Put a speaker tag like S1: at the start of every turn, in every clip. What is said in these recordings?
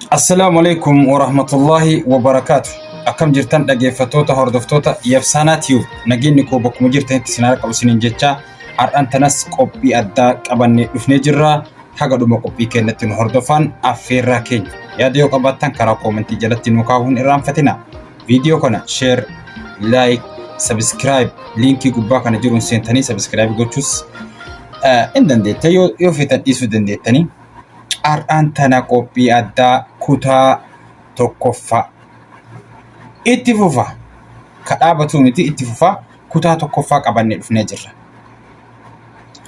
S1: Assalaamu alaikum wa rahmatullahi wa barakaatu. Akkam jirtan dhaggeeffattoota hordoftoota Yabsaanaa Tiyuub nageenyi koo bakkuma jirtanitti isin harka isiniin jechaa har'an tanas qophii addaa qabannee dhufnee jirra. Haga dhuma qophii keenyatti nu hordofaan affeerraa keenya. Yaada yoo qabaattan karaa koomentii jalatti nu kaa'uu hin irraanfatina. Viidiyoo kana sheer, laayik, sabiskiraayib liinkii gubbaa kana jiruun seentanii sabiskiraayib gochuus eh, hin dandeettan yoo yoo feetan dhiisuu dandeettanii. har'aan tana qophii addaa kutaa tokkoffaa itti fufa ka dhaabatuu miti itti fufa kutaa tokkoffaa qabannee dhufnee jirra.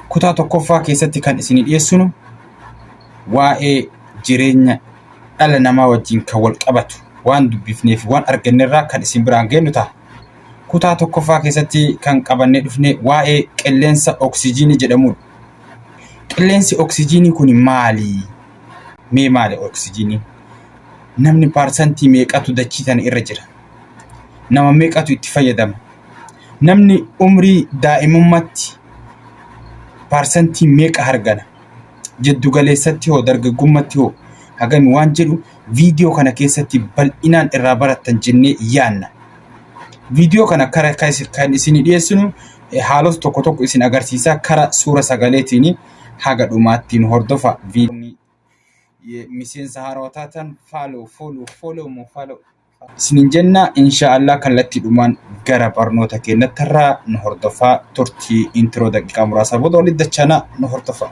S1: Kutaa tokkoffaa keessatti kan isinii dhiyeessinu waa'ee jireenya dhala namaa wajjin kan wal qabatu waan dubbifnee fi waan argannerraa kan isin biraan geenyu ta'a. Kutaa tokkoffaa keessatti kan qabannee dhufne waa'ee qilleensa oksijiinii jedhamudha. Qilleensi oksijiinii kun maali? Mee maali oksijiiniin? Namni paarsantii meeqatu dachii tana irra jira? Nama meeqatu itti fayyadama? Namni umrii daa'imummaatti paarsantii meeqa hargana? Jiddu galeessatti hoo dargaggummatti hoo hagami waan jedhu viidiyoo kana keessatti bal'inaan irraa barattan jennee yaanna. Viidiyoo kana kan isinii dhiyeessinu haalota tokko tokko isin agarsiisaa kara suura sagaleetiin haga dhumaatti nu hordofa. Miseensa haarawaa taatan faaloo fooloo fooloo moo faaloo isinin jenna inshaallah kallattiidhumaan gara barnoota keenyatti irraa nu hordofaa turtii intiroo daqiiqaa muraasaa booda walitti dachana nu hordofaa.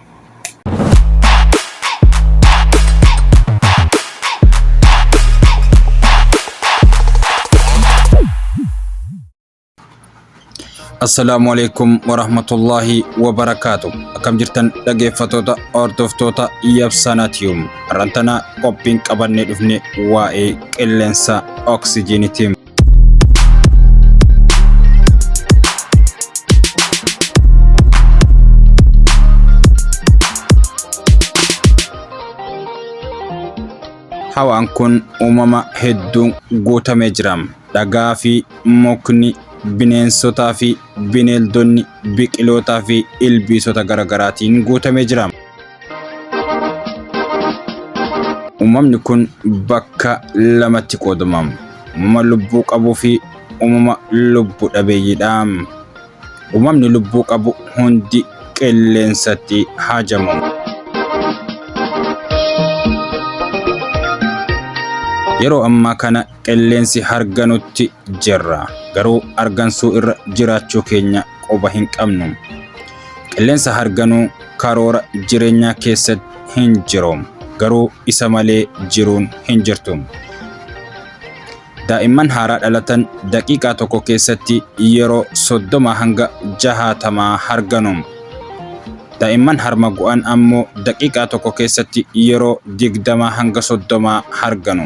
S1: Assalaamu alaikum warahmatullaahi wabarakaatu. Akkam jirtan dhageeffatoota hordoftoota Yabsanatium. Rantanaa qophiin qabannee dhufne waa'ee qilleensa oksijiiniiti. Hawaan kun uumama hedduun guutamee jira. Dhagaa fi mukni, bineensotaa fi bineeldonni, biqilootaa fi ilbiisota garagaraatiin guutamee jira. Uumamni kun bakka lamatti qoodama. Uumama lubbuu qabuu fi uumama lubbu dhabeeyyiidha. Uumamni lubbuu qabu hundi qilleensatti haajamu. Yeroo ammaa kana qilleensi harganutti jirra garuu argansuu irra jiraachuu keenya quba hin qabnu qilleensa harganuu karoora jireenyaa keessatti hin jiru garuu isa malee jiruun hin jirtu daa'imman haaraa dhalatan daqiiqaa tokko keessatti yeroo soddoma hanga jahaatamaa harganu daa'imman harma gu'an ammoo daqiiqaa tokko keessatti yeroo digdamaa hanga soddomaa harganu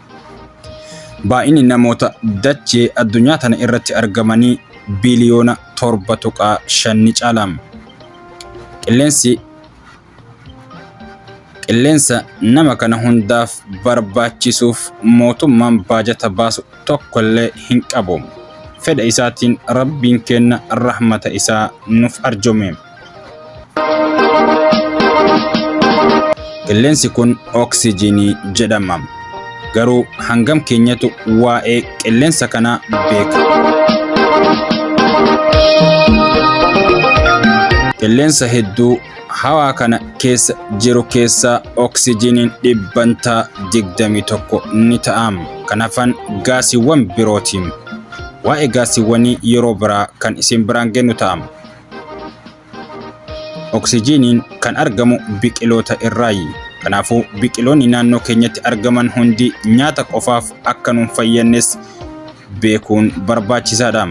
S1: Baay'inni namoota dachee addunyaa tana irratti argamanii biliyoona 7.5 ni caala. Qilleensi qilleensa nama kana hundaaf barbaachisuuf mootummaan baajata baasu tokkollee hin qabu. Fedha isaatiin Rabbiin kenna rahmata isaa nuuf arjoome. Qilleensi kun oksijiinii jedhama. Garuu hangam keenyatu waa'ee qilleensa kanaa beeka? Qilleensa hedduu hawaa kana keessa jiru keessaa oksijiiniin dhibbantaa 21 ni ta'a. Kan hafan gaasiiwwan birooti. Waa'ee gaasiiwwanii yeroo biraa kan isin biraan geenyu ta'a. Oksijiiniin kan argamu biqiloota irraayi. Kanaafuu biqiloonni naannoo keenyatti argaman hundi nyaata qofaaf akka nuun fayyadnes beekuun barbaachisaadha.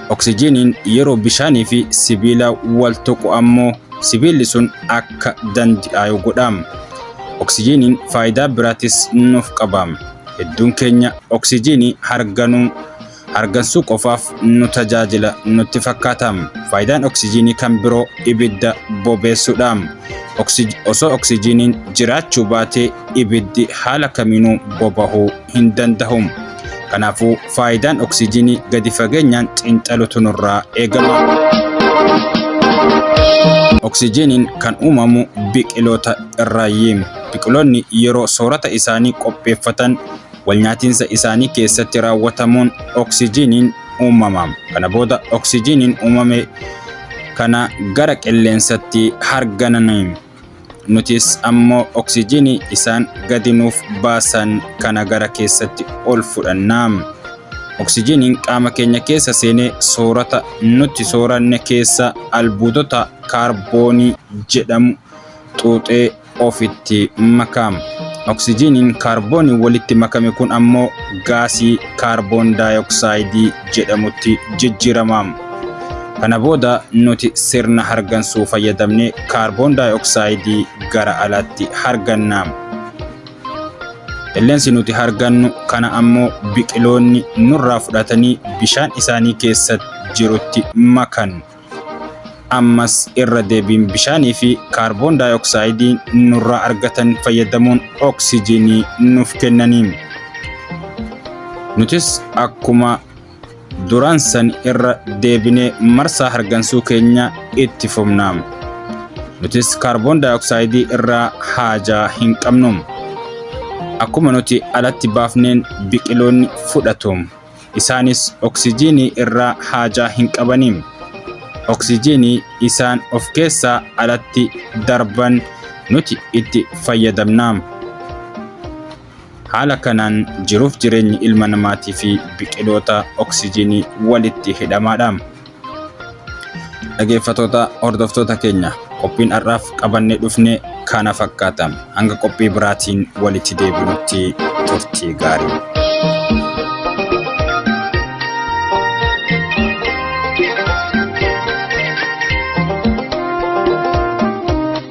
S1: Oksijiiniin yeroo bishaanii fi sibiila wal tuqu ammoo sibiilli sun akka dandi'aayu godha. Oksijiiniin faayidaa biraatis nuuf qaba. Hedduun keenya oksijiinii harganuu hargansuu qofaaf nu tajaajila nutti fakkaata. Faayidaan oksijiinii kan biroo ibidda bobeessuudha. Oksij, osoo oksijiiniin jiraachuu baatee ibiddi haala kamiinuu bobahuu hin danda'u. Kanaafuu faayidaan oksijiinii gadi fageenyaan xiinxalutu nurraa eegama. Oksijiiniin kan uumamu biqiloota irraayyi. Biqiloonni yeroo soorata isaanii qopheeffatan walnyaatinsa isaanii keessatti raawwatamuun oksijiiniin uumama. Kana booda oksijiiniin uumame kana gara qilleensatti hargananiin nutis ammoo oksijiinii isaan gadi nuuf baasan kana gara keessatti ol fudhanna. Oksijiiniin qaama keenya keessa seenee soorata nuti sooranne keessa albuudota kaarboonii jedhamu xuuxee ofitti makaam. Oksijiiniin kaarbooniin walitti makame kun ammoo gaasii kaarboon daayoksaayidii jedhamutti jijjiiramaam. Kana booda nuti sirna hargansuu fayyadamne kaarboon daayoksaayidii gara alaatti hargannaam. Qilleensi nuti hargannu kana ammoo biqiloonni nurraa fudhatanii bishaan isaanii keessa jirutti makan. ammas irra deebiin bishaanii fi kaarboon daayooksaayidii nurraa argatan fayyadamuun oksijiinii nuuf kennaniin nutis akkuma duraan san irra deebinee marsaa hargansuu keenya itti fufna nutis kaarboon daayooksaayidii irraa haajaa hin qabnu akkuma nuti alatti baafneen biqiloonni fudhatu. Isaanis oksijiinii irraa haajaa hin qabani. Oksijiinii isaan of keessaa alatti darban nuti itti fayyadamna. Haala kanaan jiruuf jireenyi ilma namaatii fi biqiloota oksijiinii walitti hidhamaadha. Dhageeffatoota hordoftoota keenya qophiin har'aaf qabannee dhufne kana fakkaata. Hanga qophii biraatiin walitti deebinutti turtii gaarii.